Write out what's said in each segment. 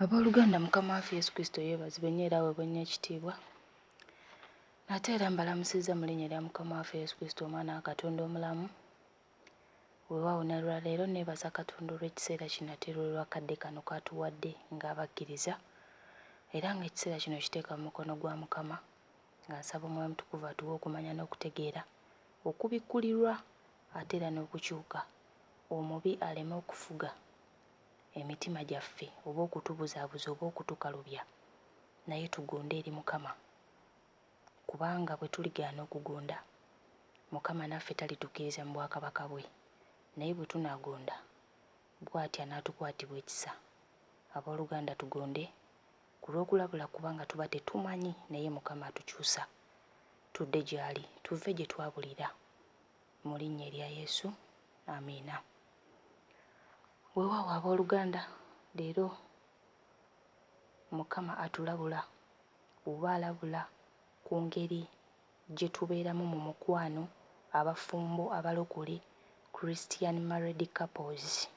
Abooluganda, Mukama waffe Yesu Kristo yeebazibwe nnyo era aweebwe nnyo ekitiibwa. Nate era mbalamusizza mu linnya lya Mukama waffe Yesu Kristo Omwana wa Katonda omulamu. Weewaawo ne lwa leero nneebaza Katonda olw'ekiseera kino ate era olw'akadde kano k'atuwadde ng'abakkiriza era ng'ekiseera kino nkiteeka mu mukono gwa Mukama nga nsaba Omwoyo Omutukuvu atuwe okumanya n'okutegeera okubikkulirwa ate era n'okukyuka omubi aleme okufuga. emitima gyaffe oba okutubuzabuza oba okutukalubya naye tugunde eri mukama kubanga bwetuligaana okugonda mukama naffe talitukiriza mu bwakabaka bwe naye bwetunagonda bwati anatukwatirwa ekisa aboluganda tugonde kulwokulabula kubanga tuba tetumanyi naye mukama atukyusa tudde gyali tuve gyetwabulira mu linnya erya Yesu, amiina. Weewaawo ab'oluganda, leero Mukama atulabula oba alabula ku ngeri gye tubeeramu mu mukwano, abafumbo abalokole, Christian married couples.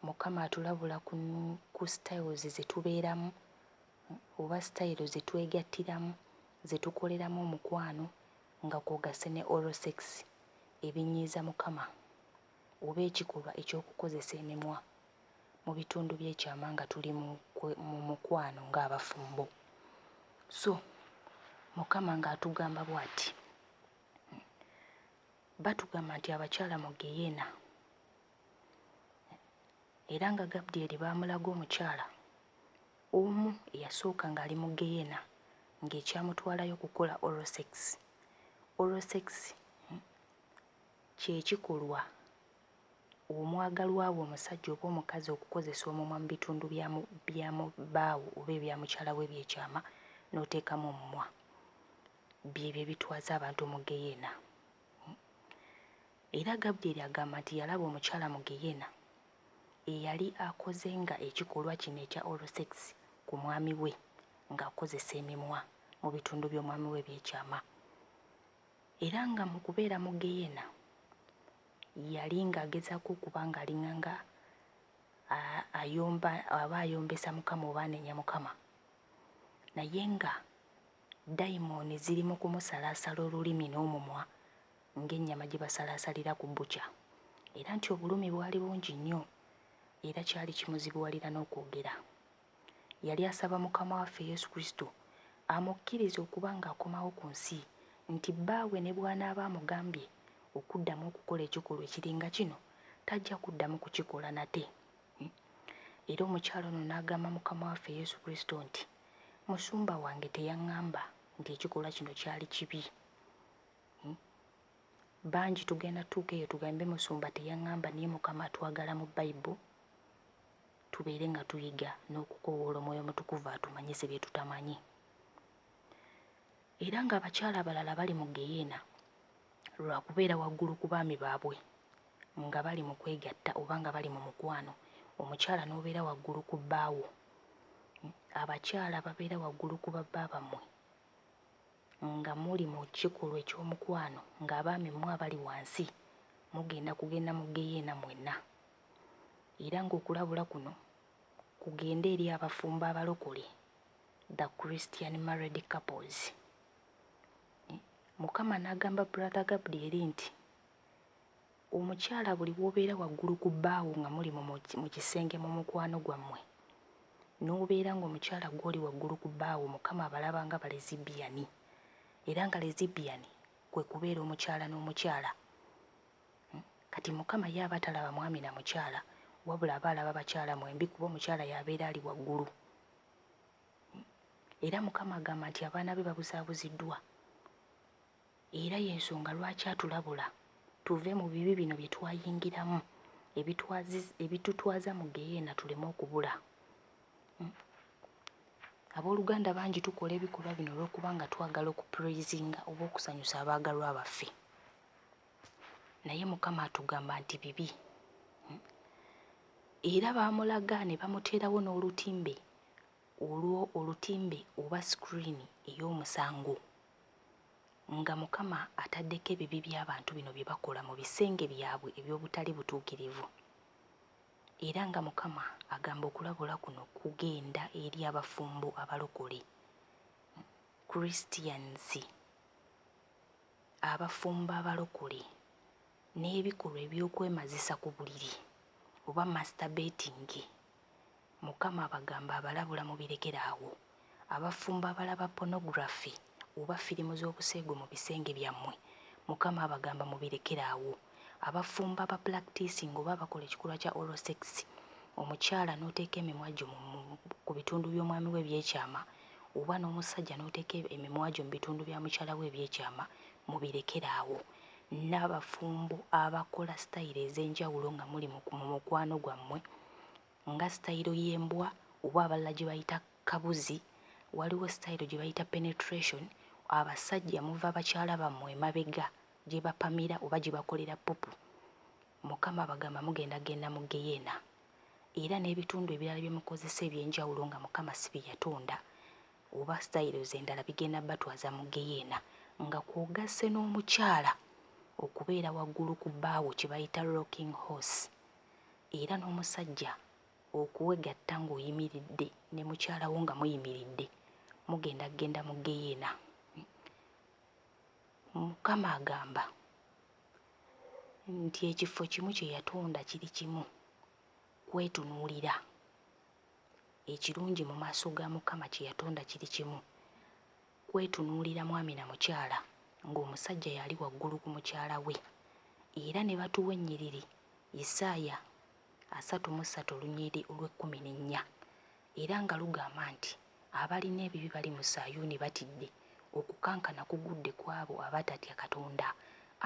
Mukama atulabula ku ku styles ze tubeeramu oba sitayiro ze twegattiramu ze tukoleramu omukwano nga kw'ogasse ne oral sex ebinyiiza Mukama oba ekikolwa eky'okukozesa emimwa mu bitundu by'ekyama nga tuli mu mu mukwano ng'abafumbo. So Mukama ng'atugamba bw'ati, Batugamba nti abakyala mu ggeyeena era nga Gabdyeri baamulaga omukyala Omu eyasooka ng'ali mu geyena ng'ekyamutwalayo kukola oral sex. Oral sex kye kikolwa omwagalwa wo omusajja oba omukazi okukozesa omumwa mu bitundu bya mu bya mu bbaawo oba ebya mukyala wo eby'ekyama n'oteekamu omumwa. Byebyo ebitwaza abantu mu geyena. Era Gabudyeri agamba nti yalaba omukyala mu geyena eyali akoze nga ekikolwa kino ekya oral sex ku mwami we nga akozesa emimwa mu bitundu by'omwami we ebyekyama era nga mu kubeera mu geyena yali nga agezaako okuba nga alinganga ayomba aba ayombesa mukama oba anenya mukama naye nga dayimooni ziri mu kumusalaasala olulimi n'omumwa ng'ennyama gye basalaasalira ku bbuca era nti obulumi bwali bungi nnyo era kyali kimuzibuwalira n'okwogera. Yali asaba Mukama waffe Yesu Kristo amukkirize okuba ng'akomawo ku nsi nti Bbaawe ne bw'anaaba amugambye okuddamu okukola ekikolwa ekiringa kino tajja kuddamu kukikola nate. Era omukyala ono n'agamba Mukama waffe Yesu Kristo nti, Musumba wange teyangamba nti ekikolwa kino kyali kibi. Bangi tugenda tuuka eyo tugambe musumba teyangamba naye mukama atwagala mu bible tubeere nga tuyiga n'okukowoola omwoyo mutukuvu atumanyise bye tutamanyi era nga abakyala abalala bali mu geyeena lwa kubeera waggulu ku baami baabwe nga bali mu kwegatta oba nga bali mu mukwano omukyala n'obeera waggulu ku bbaawo abakyala babeera waggulu ku babba bammwe Nga muli mu kikolwa eky'omukwano ng'abaami mmwe abali wansi, mugenda kugenda mu ggeyeena mwenna. Era ng'okulabula kuno kugende eri abafumbo abalokole, the Christian married couples. Mukama n'agamba Brother Gabdiel nti, Omukyala buli wobeera waggulu ku bbaawo nga muli mu mu kisenge mu mukwano gwammwe n'obeera ng'omukyala gw'oli waggulu ku bbaawo Mukama abalaba nga balezibbiyani era nga lezibbiyani kwe kubeera omukyala n'omukyala. Kati Mukama ye aba talaba mwami na mukyala wabula aba alaba bakyala mwembi kuba omukyala y'abeera ali waggulu. Era Mukama agamba nti abaana be babuzaabuziddwa. Era y'ensonga lwaki atulabula tuve mu bibi bino bye twayingiramu ebitutwaza mu ggeyeena tuleme okubula. Ab'oluganda bangi tukola ebikolwa bino olw'okuba nga twagala okupuleyizinga oba okusanyusa abaagalwa baffe. Naye Mukama atugamba nti bibi. Era baamulaga ne bamuteerawo n'olutimbe olwo olutimbe oba sikiriini ey'omusango. nga Mukama ataddeko ebibi by'abantu bino bye bakola mu bisenge byabwe eby'obutali butuukirivu, era nga Mukama agamba okulabula kuno kugenda eri abafumbo abalokole, Christians, abafumbo abalokole, n'ebikolwa eby'okwemazisa ku buliri oba masturbating Mukama abagamba abalabula mubirekere awo abafumbo abalaba pornography oba firimu zobuseegu mubisenge byammwe mukama abagamba mubirekere awo abafumbo aba plactisinga oba abakola ekikolwa kya oral sex omukyala noteeka emimwa gyo kubitundu byomwami we ebyekyama oba nomussajja noteeka emimwa gyo mubitundu bya mukyala we ebyekyama mubirekere awo n'abafumbo abakola sitayiro ez'enjawulo nga muli mu mu mukwano gwammwe nga sitayiro y'embwa oba abalala gye bayita kabuzi, waliwo sitayiro gye bayita penetration, abasajja muva bakyala bammwe emabega gye bapamira oba gye bakolera pupu, Mukama abagamba mugenda kugenda mu ggeyeena. Era n'ebitundu ebirala bye mukozesa eby'enjawulo nga Mukama si bye yatonda, oba styles endala bigenda batwaza mu geyeena nga kwogasse n'omukyala okubeera waggulu ku bbaawo kye bayita rocking horse era n'omusajja okwegatta ng'oyimiridde ne mukyala wo nga muyimiridde mugenda kugenda mu geyeena Mukama agamba nti ekifo kimu kye yatonda kiri kimu kwetunuulira Ekirungi mu maaso ga Mukama kye yatonda kiri kimu, kwetunuulira mwami na mukyala ng'omusajja y'ali waggulu ku mukyala we, era ne batuwa ennyiriri, Isaaya asatu mu ssatu olunyiriri olw'ekkumi n'ennya, era nga lugamba nti, Abalina ebibi bali mu Sayuuni batidde, Okukankana kugudde ku abo abatatya Katonda.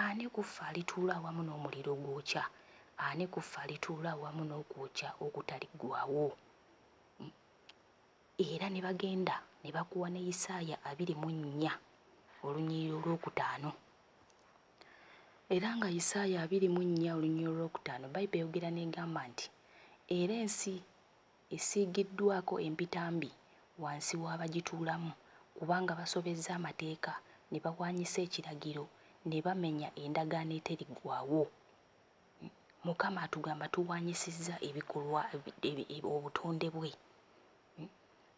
Ani ku ffe alituula awamu n'omuliro ogwokya? Ani ku ffe alituula awamu n'okwokya okutaliggwaawo? Mu. Era ne bagenda ne bakuwa ne Isaaya abiri mu nnya, olunyiriri olwokutaano. Era nga Isaaya abiri mu nnya, olunyiriri olwokutaano, Baibuli eyogera n'egamba nti, Era ensi esiigiddwaako empitambi wansi w'abagituulamu kubanga basobezza amateeka ne bawaanyisa ekiragiro ne bamenya endagaano eteriggwaawo. Mukama atugamba tuwaanyisizza ebikolwa obutonde bwe.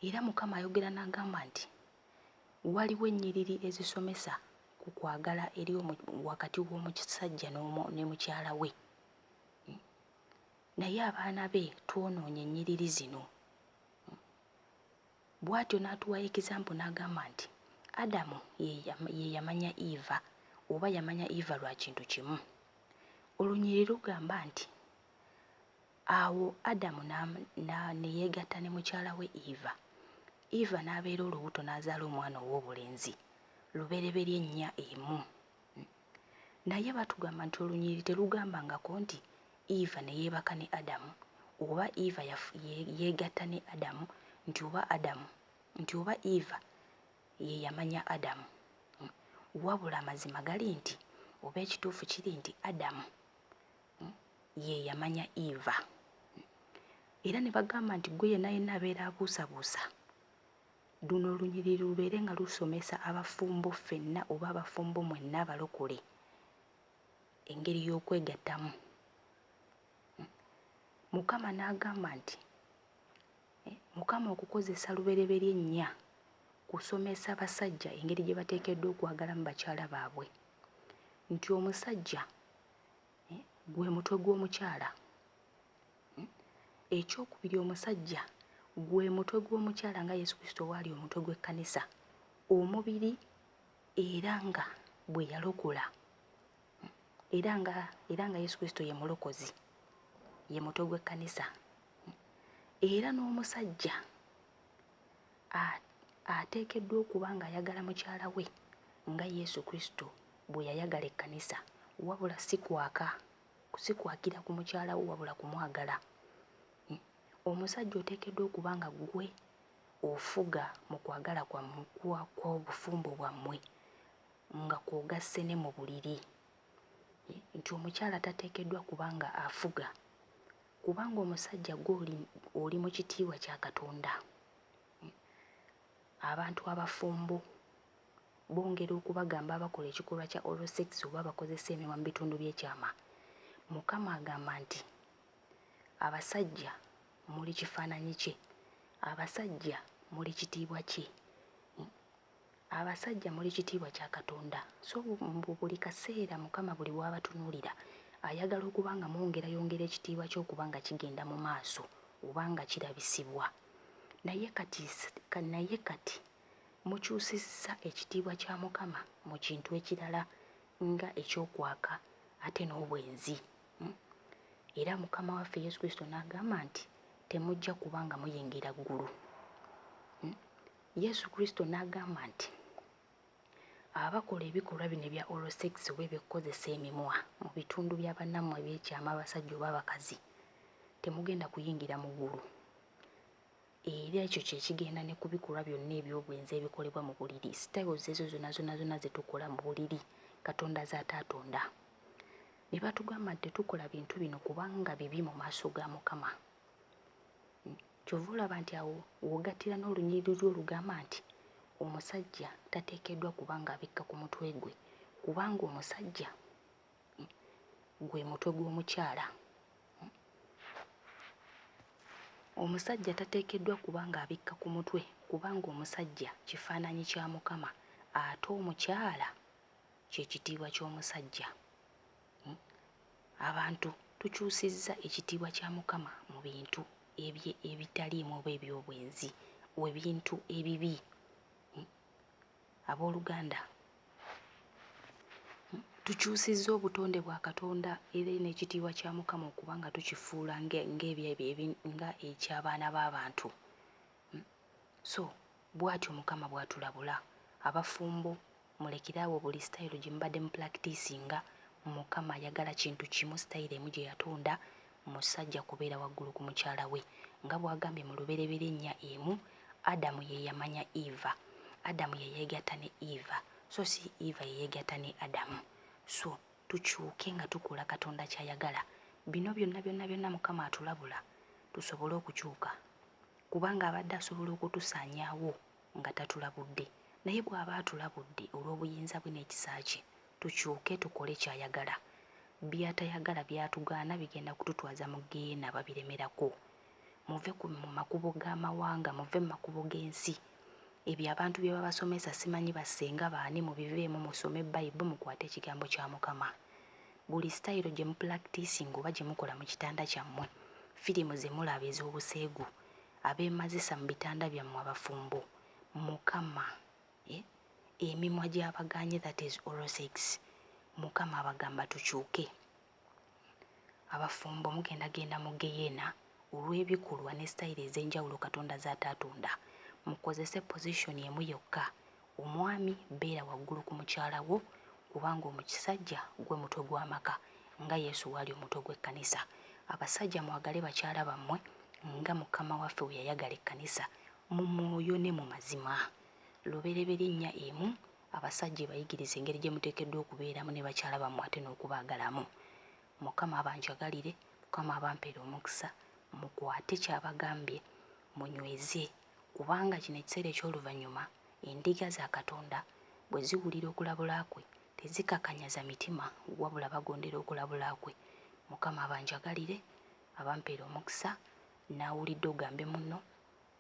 Era Mukama ayogera n'agamba nti, Waliwo ennyiriri ezisomesa ku kwagala eri wakati w'omusajja ne mukyala we. Naye abaana be twonoonye ennyiriri zino. Bw'atyo n'atuwa example n'agamba nti Adamu ye ye yamanya Eva oba yamanya Eva lwa kintu kimu. Olunyiriri lugamba nti, Awo Adamu ne yeegatta ne mukyala we Eva, Eva n'abeera olubuto n'azaala omwana ow'obulenzi, lubereberye ennya emu. Naye batugamba nti olunyiriri telugambangako nti Eva neyebaka ne Adamu oba Eva yegatta ne Adamu nti oba Adamu nti oba Eva yeyamanya Adamu wabula amazima gali nti oba ekituufu kiri nti Adamu yeyamanya Eva era nebagamba nti gwe yena yena abeera abuusabuusa Luno olunyiriri lubeere nga lusomesa abafumbo ffenna oba abafumbo mwenna abalokole engeri y'okwegattamu. Mukama n'agamba nti, eh, Mukama okukozesa lubereberye nnya kusomesa abasajja engeri gye bateekeddwa okwagalamu bakyala baabwe, nti omusajja eh, gwe mutwe gw'omukyala. Ekyokubiri, omusajja gwe mutwe gw'omukyala nga Yesu Kristo bw'ali omutwe gw'ekkanisa, omubiri era nga bwe yalokola era nga era nga Yesu Kristo ye mulokozi ye mutwe gw'ekkanisa era n'omusajja ateekeddwa okuba ng'ayagala mukyala we nga Yesu Kristo bwe yayagala ekkanisa wabula si kwaka sikwagira ku mukyala wo wabula kumwagala. Omusajja oteekeddwa okuba nga ggwe ofuga mu kwagala kwammwe kwa kw'obufumbo bwammwe nga kw'ogasse ne mu buliri nti omukyala tateekeddwa kuba nga afuga kubanga omusajja ggwe oli oli mu kitiibwa kya Katonda. Abantu abafumbo bongera okubagamba abakola ekikolwa kya oral sex oba abakozesa emimwa mu bitundu by'ekyama. Mukama agamba nti, Abasajja muli kifaananyi kye, abasajja muli kitiibwa kye. Abasajja muli kitiibwa kya Katonda. So mbu buli kaseera Mukama buli w'abatunuulira ayagala okuba nga mwongerayongera ekitiibwa kye okuba nga kigenda mu maaso oba nga kirabisibwa. Naye kati, naye kati mukyusizza ekitiibwa kya Mukama mu kintu ekirala nga eky'okwaka ate n'obwenzi. Hmm? Era Mukama waffe Yesu Kristo n'agamba nti temujja kuba nga muyingira ggulu. Hmm? Yesu Kristo n'agamba nti abakola ebikolwa bino ebya oral sex oba eby'okukozesa emimwa mu bitundu bya bannammwe eby'ekyama abasajja oba abakazi temugenda kuyingira mu ggulu. Era ekyo kye kigenda ne ku bikolwa byonna eby'obwenzi ebikolebwa mu buliri, styles ezo zonna zonna zonna ze tukola mu buliri, Katonda z'ataatonda. Ne batugamba nti tetukola bintu bino kubanga bibi mu maaso ga Mukama. Ky'ova olaba nti awo w'ogattira n'olunyiriri lwo olugamba nti omusajja tateekeddwa kuba ng'abikka ku mutwe gwe kubanga omusajja gwe mutwe gw'omukyala. Omusajja tateekeddwa kuba ng'abikka ku mutwe kubanga omusajja kifaananyi kya Mukama ate omukyala kye kitiibwa ky'omusajja. Hmm? Abantu tukyusizza ekitiibwa kya Mukama mu bintu ebitaliimu oba eby'obwenzi, ebintu ebibi. Hmm? Abooluganda, tukyusizza obutonde bwa Katonda era n'ekitiibwa kya Mukama okuba nga tukifuula ng'eky'abaana b'abantu. So bw'atyo Mukama bw'atulabula. Abafumbo mulekere awo buli sitayiro gye mubadde mupulakitiisinga. Mukama ayagala kintu kimu, sitayiro emu gye yatonda, Musajja kubeera waggulu ku mukyala we. Nga bw'agambye mu Lubereberye nnya emu, Adamu ye yamanya Eva. Adamu ye yeegatta ne Eva, so si Eva ye yeegatta ne Adamu. So, tukyuke nga tukola Katonda ky'ayagala. Bino byonna, byonna, byonna Mukama atulabula tusobole okukyuka. Kubanga abadde asobola okutusaanyaawo nga tatulabudde, naye bw'aba atulabudde olw'obuyinza bwe n'ekisa kye, tukyuke tukole ky'ayagala. By'atayagala, by'atugaana bigenda kututwaza mu ggeyeena babiremerako. Muve ku, mu makubo g'amawanga, muve mu makubo g'ensi. Ebyo abantu bye babasomesa, simanyi ba ssenga baani, mubiveemu, musome Bayibo, mukwate Ekigambo kya Mukama. Buli sitayiro gye mupulakitiisinga oba gye mukola mu kitanda kyammwe, firimu ze mulaba ez'obuseegu, Abeemazisa mu bitanda byammwe abafumbo mukama eh emimwa gyabagaanye that is oral sex mukama abagamba tukyuke abafumbo mugenda genda mu geyena olw'ebikolwa ne sitayiro ez'enjawulo katonda z'ataatonda mukozese position emu yokka Omwami beera waggulu ku mukyala wo kubanga omukisajja gwe mutwe gw'amaka nga Yesu waali omutwe gw'ekkanisa. Abasajja mwagale bakyala bammwe nga Mukama waffe bwe yayagala ekkanisa mu mwoyo ne mu mazima. Lubereberye nnya emu abasajja ebayigiriza engeri gye muteekeddwa okubeeramu ne bakyala bammwe ate n'okubaagalamu. Mukama abanjagalire, Mukama abampeere omukisa, mukwate ky'abagambye munyweze Kubanga kino ekiseera eky'oluvannyuma, endiga za Katonda bwe ziwulira okulabula kwe, tezikakanyaza mitima, wabula bagondera okulabula kwe. Mukama abanjagalire, abampeere omukisa, nnaawulidde ogambe munno,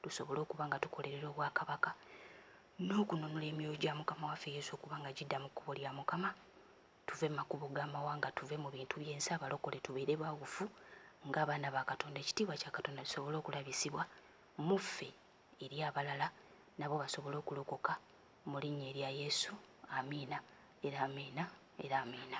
tusobole okuba nga tukolerera obwakabaka, n'okununula emyoyo gya Mukama waffe Yesu okuba nga gidda mu kkubo lya Mukama, tuve makubo ga mawanga tuve mu bintu byensi abalokole tubeere bawufu nga abaana ba katonda ekitiibwa kya katonda kisobole okulabisibwa muffe eri abalala nabo basobole okulokoka mu linnya erya yesu amiina era amiina era amiina